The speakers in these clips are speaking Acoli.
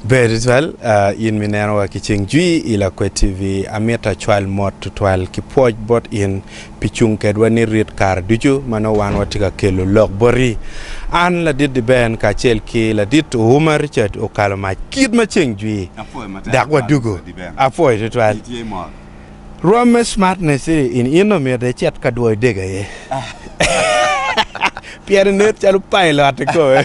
Ber tutwal in ma ineno wa ki ceng jwi i Lakwed TV. Amito acwal mot tutwal ki pwoc bot in pi cung kedwa ni rit kare ducu ma nongo wan watye ka kelo lok boti. An ladit Diben kacel ki ladit Ouma Richard okalo mac kit ma ceng jwi dok wadugo. Apwoyo tutwal. Rwom me smartness in in omyero icit ka dwoyo dege aye. Pien inet calo pailot kome.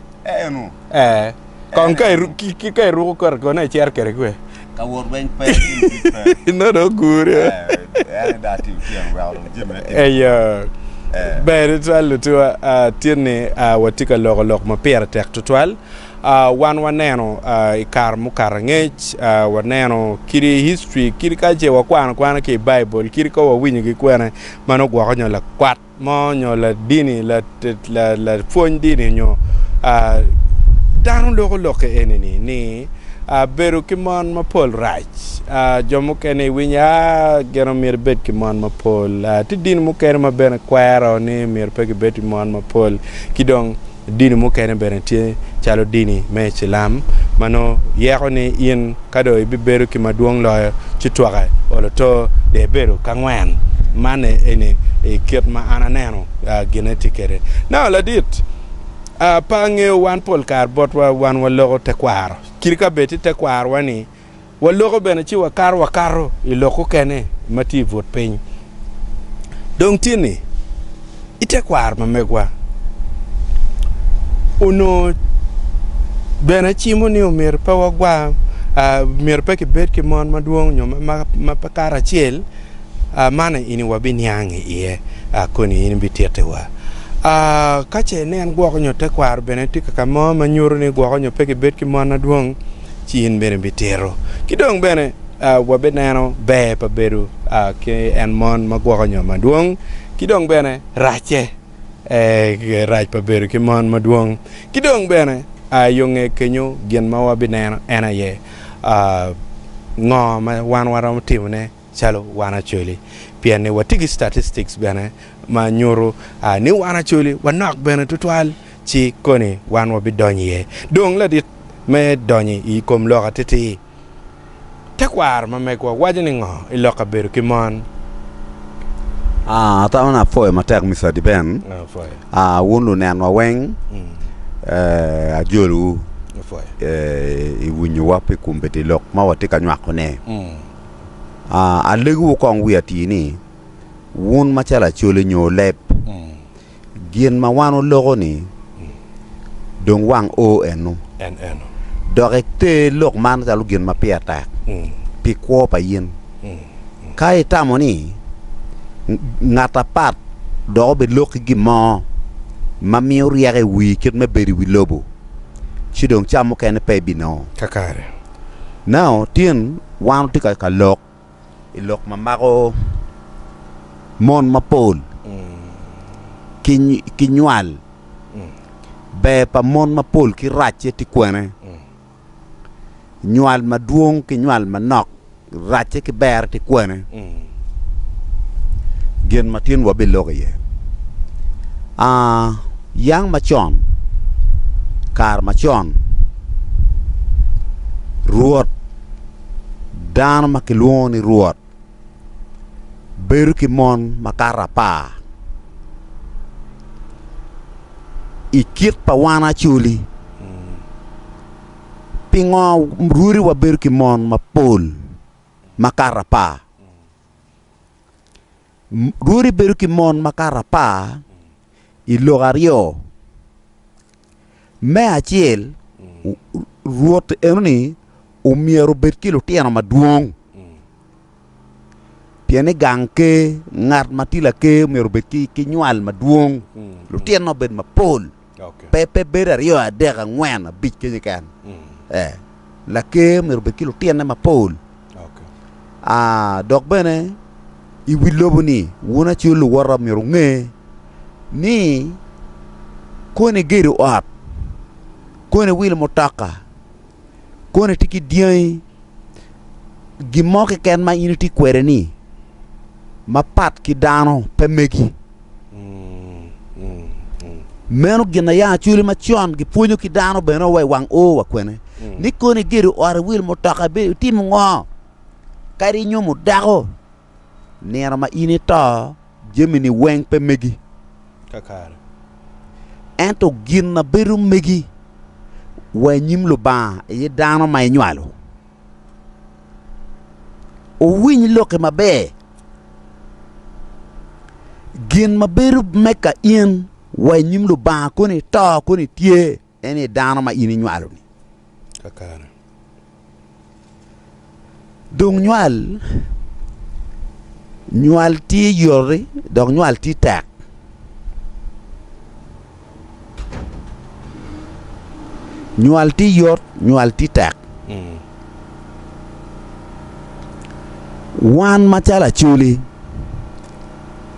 Eno. Eh. Kong ka ki ka iruko kore kone icer kere kwe. Ka wot weng pe ki no do gure. Eh, da ti tien wero jim ne. Eh ya. Ber twal lutwa tye ni watye ka loko lok ma pire tek tutwal. Wan waneno i kare mukato angec, waneno kidi history, kidi ka ce wakwano kwana ki i Baibul, kidi ka wawinyo ki kwene ma nugwoko nyo lakwat mo nyo ladini lapwony dini nyo dano loko lokke enini ni bedo ki mon mapol rac jo mukene iwinyo a gin omyero ibed ki mon mapol tye dini mukene ma bene kwero ni myero pe gibed ki mon mapol ki dong Dini mukene bene tye calo dini me Icilam ma nongo yeko ni in ka dong ibibedo ki madwong loyo ci twake olo to dong ibedo ki angwen. Man eni i kit ma an aneno gine tye kwede. Naka ladit, pe angeyo wan pol kare botwa wan wa loko tekwaro kadi ka bed tye tekwarowa ni, Waloko bene ci wakato wakato i lok okene ma tye i but piny. Dong tye ni, i tekwaro ma megwa onongo bene cimo ni omyero pe wagwa, myero pe kibed ki mon madwong nyo ma pe kato acel, man aye ini wabiniang i iye koni in ibitittiwa. Ka ce nen gwoko nyo tekwaro bene tye kaka mo ma nyuto ni gwoko nyo pe kibed ki mon madwong, ci in bene ibitito. Ki dong bene wabineno ber pa bedo ki en mon ma gwoko nyo madwong, ki dong bene racce, rac pa bedo ki mon madwong. Ki dong bene yo nge kenyo gin ma wabineno en aye ngo ma wan waromo timone calo wan acoli, pien ni watye ki statistics bene ma nyuto ni wan acoli wanok bene tutwal, ci koni wan wabidonyo iye. Dong ladit me donyo i kom lok atitir, tekwaro ma megwa waco ni ngo i lok kabedo ki mon? Ah, ata wun apwoyo matek Mister Adiben, ah, wun lunenwa weng, eh, ajolowu, eh, iwinyowa pi kombeddi lok ma watye ka nywako ne. Alegowu kong wi atir ni, wun macalo acoli nyo oleb, gin ma wan waloko-ni dong wang o eno, dok iter lok man calo gin ma pire tek pi kwo pa in. Ka itamo ni ngat apat dok obilokki gin mo ma miyo ryeko i wii kit me bedo i wi lobo, ci dong cam mukene pe ibinongo. Now tin wan watye ka ka lok i lok ma mako mon mapol ki ki nywal. Ber pa mon mapol ki racce tye kwene? Nywal madwong ki nywal manok Racce ki berre tye kwene? Gin ma tin wabiloko iye. A Yang macon, kare macon, rwot, dano ma kilwongo ni rwot, bedo ki mon makato apar. I kit pa wan Acholi. Pingo rwodi wabedo ki mon mapol makato apar? Rwodi bedo ki mon makato apar i lok aryo. Me acel, Rwot enoni omyero obed ki lutino madwong Pien ni gang ker, ngat ma tye laker myero obed ki, ki nywal madwong, lutino obed mapol, okay. pe pe bedo aryo adek angwen abic kenye ken. Mm. Eh, laker myero obed ki lutinne mapol. Okay. Ah, dok bene i wi lobo ni wun acel luwota myero nge ni koni gedo ot, koni wilo mutoka, kono itye ki dyangi gin mo keken ma in itye kwede ni mapat ki dano pe megi meno gin aya acwili macon gipwonyo ki dano bene wa wang o wa kwene ni kono igedo ot iwil mutoka itim ngo kadi inyumo dako Nino ma in ito, jamini weng pe megi. Kakare. Ento gin ma bedo megi wa i nyim Lubanga aye dano ma inywalo. Wuwiny lokki maber. Gin ma bedo meka in wa i nyim Lubanga koni ito koni tye. En aye dano ma in inywalo-ni. Kakare. Dong nywal, nywal tye yoti, dok nywal tye tek. Nywal tye yot, nywal tye tek. Wan macalo Acholi,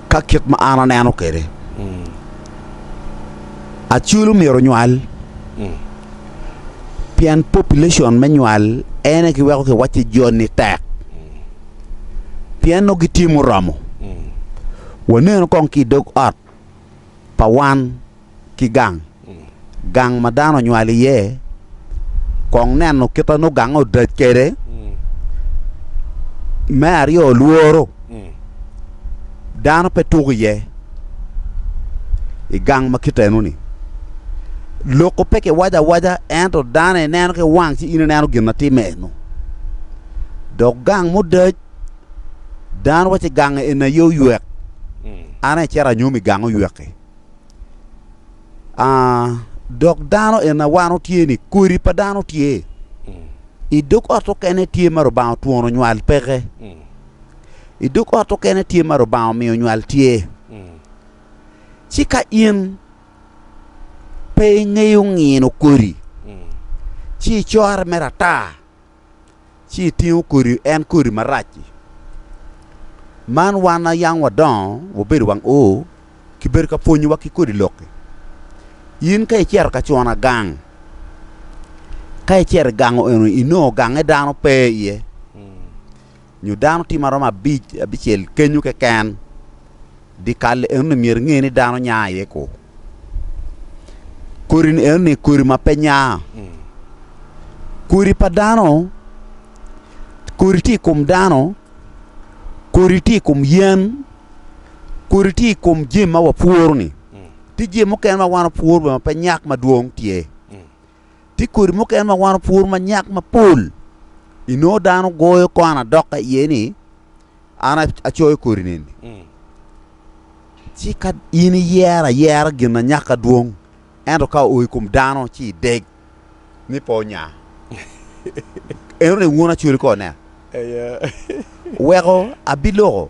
Ka kit ma an aneno kwede, aculu myero onywal pien population me nywal en aye giweko kiwacci joni tek pien nongo gitye muromo. Waneno kong ki i dog ot. pa wan ki gang, gang ma dano onywal iye, kong neno kite nongo gange odac kwede. Me aryo, lworo. Dano pe tuko iye i gang ma kitenoni. Loko pe kiwaco awaca ento dano ineno ki wang ci in ineno gin ma timme-nu. Dok gang mudac Dano wacce gange en aye oywek. An aye cito anyomo i gang oywek-ki. Ah, dok dano en awano tye ni kodi pa dano tye. I dog ot okene tye ma Rubanga otwono nywal peke. I dog ot okene tye ma Rubanga omiyo nywal tye. Ci ka in pe ingeyo ngino kodi, ci icor mere ata ci itingo kodi en kodi marac-ci. Man wan ayang wadongo wabedo wang o kibedo ka pwonyowa ki kodi lok-ki. In ka icito ka cuna gang ka icito i gang eno inongo gange dano pe iye. nyo dano tye ma romo abic abicel kenyo keken dikal enoni myero inge ni dano nya iye ku kodi ni enoni kodi ma pe nya kodi pa dano kodi tye i kom dano kodi tye i kom yen kodi tye i kom jami ma wapworo ni tye jami mukene ma wan wapworo bene ma pe nyak madwong tye Tye kodi mukene ma wan opuru ma nyak mapol. Inongo dano goyo kwan adoka iye ni an acoyo kodi neni. Mm. Ci ka in iyero ayera gin na nyak adwong, ento ka o i kom dano ci ideg ni pe onya. Eno ni wun acoli kone. Aye. Weko abiloko.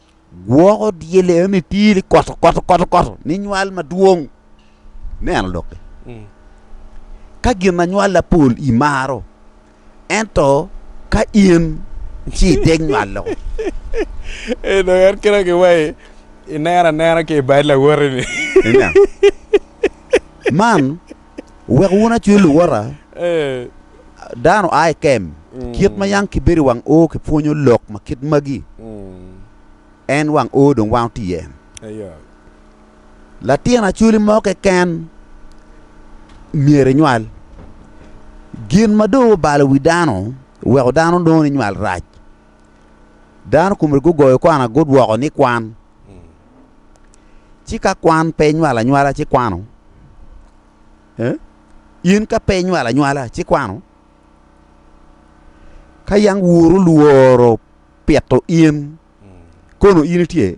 Gwoko dyel eno ni tye ni koto koto koto koto ni nywal madwong. Neno doki. Mm. Ka gin na nywal lapol i maro, ento ka in ci i deg nywal loko. E do en kira ki wai i nera nera ki i bad lawoti ni. Man Wek wun acwe luwota, dano a i kem, kit ma yang kibedo i wang o kipwonyo lok ma kit magi, en wang o dong wango tiye. Latin acwali mo keken myero inywal. Gin ma dong obalo wi dano weko dano nongo ni nywal rac. Dano komgi gugoyo kwana gudwoko ni kwan. Ci ka kwan pe inywalo anywala ci kwano. In ka pe inywalo anywala ci kwano. Ka yang wuru lworo pito in, kono in itye?